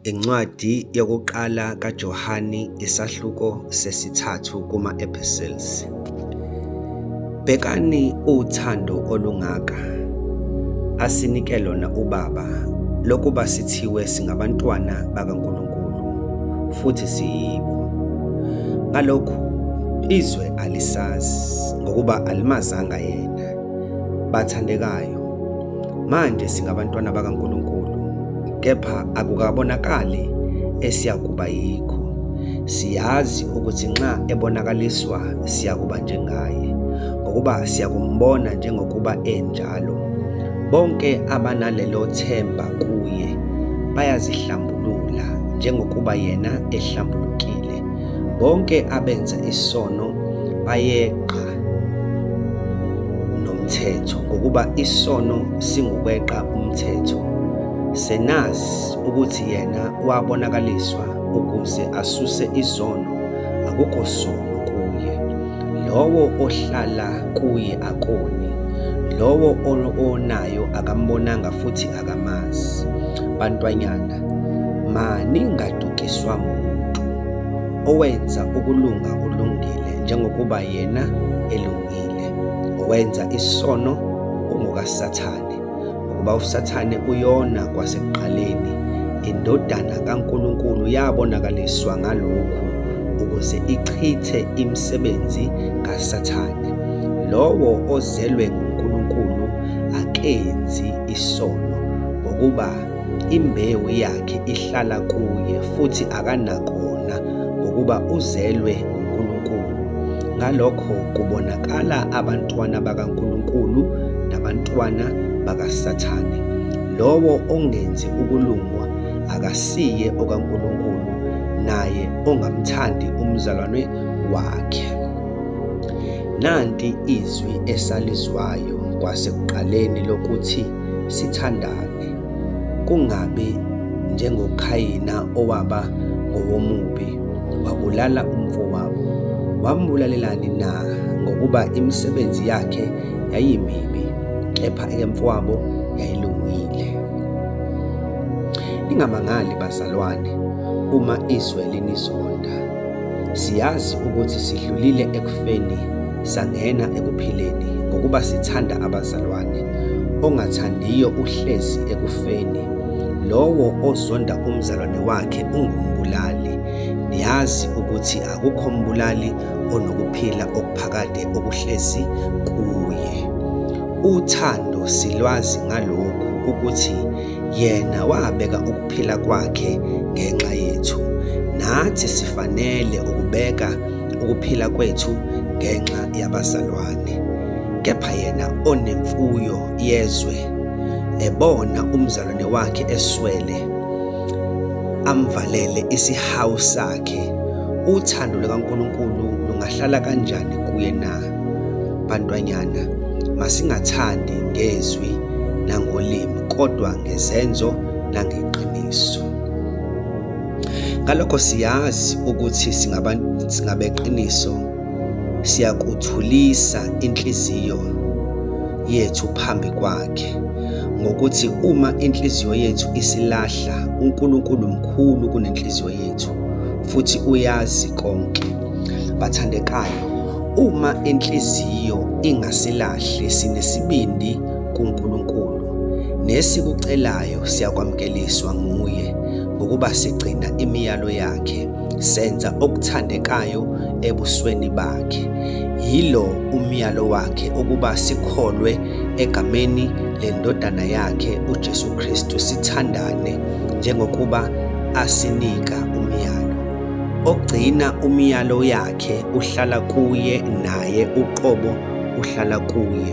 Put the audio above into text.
Incwadi yokuqala kaJohane isahluko sesithathu kuma-epistles. Bhekani uthando olungaka asinike lona uBaba lokuba sithiwe singabantwana bakaNkulunkulu futhi siyibo. Ngalokhu izwe alisazi ngokuba alimazanga yena. Bathandekayo, Manje singabantwana bakaNkulunkulu, kepha akukabonakali esiyakuba yikho. Siyazi ukuthi nxa ebonakaliswa siyakuba njengaye, ngokuba siyakumbona njengokuba enjalo. Bonke abanalelo themba kuye bayazihlambulula njengokuba yena ehlambulukile. Bonke abenza isono bayeqa nomthetho ngokuba isono singukweqa umthetho senazi ukuthi yena wabonakaliswa ukuze asuse izono akukho sono kuye lowo ohlala kuye akoni lowo onayo akambonanga futhi akamazi bantwanyana maningadukiswa muntu owenza ukulunga kulungile njengokuba yena elungile owenza isono ungokaSathane ngokuba uSathane uyona kwasekuqaleni indodana kaNkulunkulu yabonakaliswa ngalokhu ukuze ichithe imisebenzi kaSathane lowo ozelwe nguNkulunkulu akenzi isono ngokuba Imbewu yakhe ihlala kuye futhi akanakona ngokuba uzelwe nguNkulunkulu. Ngalokho kubonakala abantwana bakaNkulunkulu nabantwana bakaSathane. Lowo ongenzi ukulungwa akasiye okaNkulunkulu, naye ongamthandi umzalwane wakhe. Nanti izwi esalizwayo kwasekuqaleni lokuthi sithandane, kungabi njengoKhayina owaba ngowomubi, wabulala umfowabo. Wambulalelani na? Ngokuba imisebenzi yakhe yayimibi, kepha eyemfowabo yayilungile. Ningamangali bazalwane uma izwe linizonda. Siyazi ukuthi sidlulile ekufeni sangena ekuphileni ngokuba sithanda abazalwane ongathandiyo uhlezi ekufeni lowo ozonda umzalwane wakhe ungumbulali niyazi ukuthi akukho mbulali onokuphila okuphakade okuhlezi kuye uthando silwazi ngalokhu ukuthi yena wabeka ukuphila kwakhe ngenxa yethu nathi sifanele ukubeka ukuphila kwethu ngenxa yabazalwane kepha yena onemfuyo yezwe ebona umzalwane wakhe eswele amvalele isihawu sakhe uthando lukaNkulunkulu lungahlala kanjani kuye na bantwanyana masingathandi ngezwi nangolimi kodwa ngezenzo nangeqiniso Ngalokho siyazi ukuthi singabeqiniso siyakuthulisa inhliziyo yethu phambi kwakhe ngokuthi uma inhliziyo yethu isilahla uNkulunkulu mkhulu kunenhliziyo yethu futhi uyazi konke bathandekayo uma inhliziyo ingasilahli sinesibindi kuNkulunkulu nesikucelayo siyakwamkeliswa nguye ngokuba sigcina imiyalo yakhe senza okuthandekayo ebusweni bakhe yilo umyalo wakhe ukuba sikholwe egameni lendodana yakhe uJesu Kristu sithandane njengokuba asinika umyalo ogcina umyalo yakhe uhlala kuye naye uqobo uhlala kuye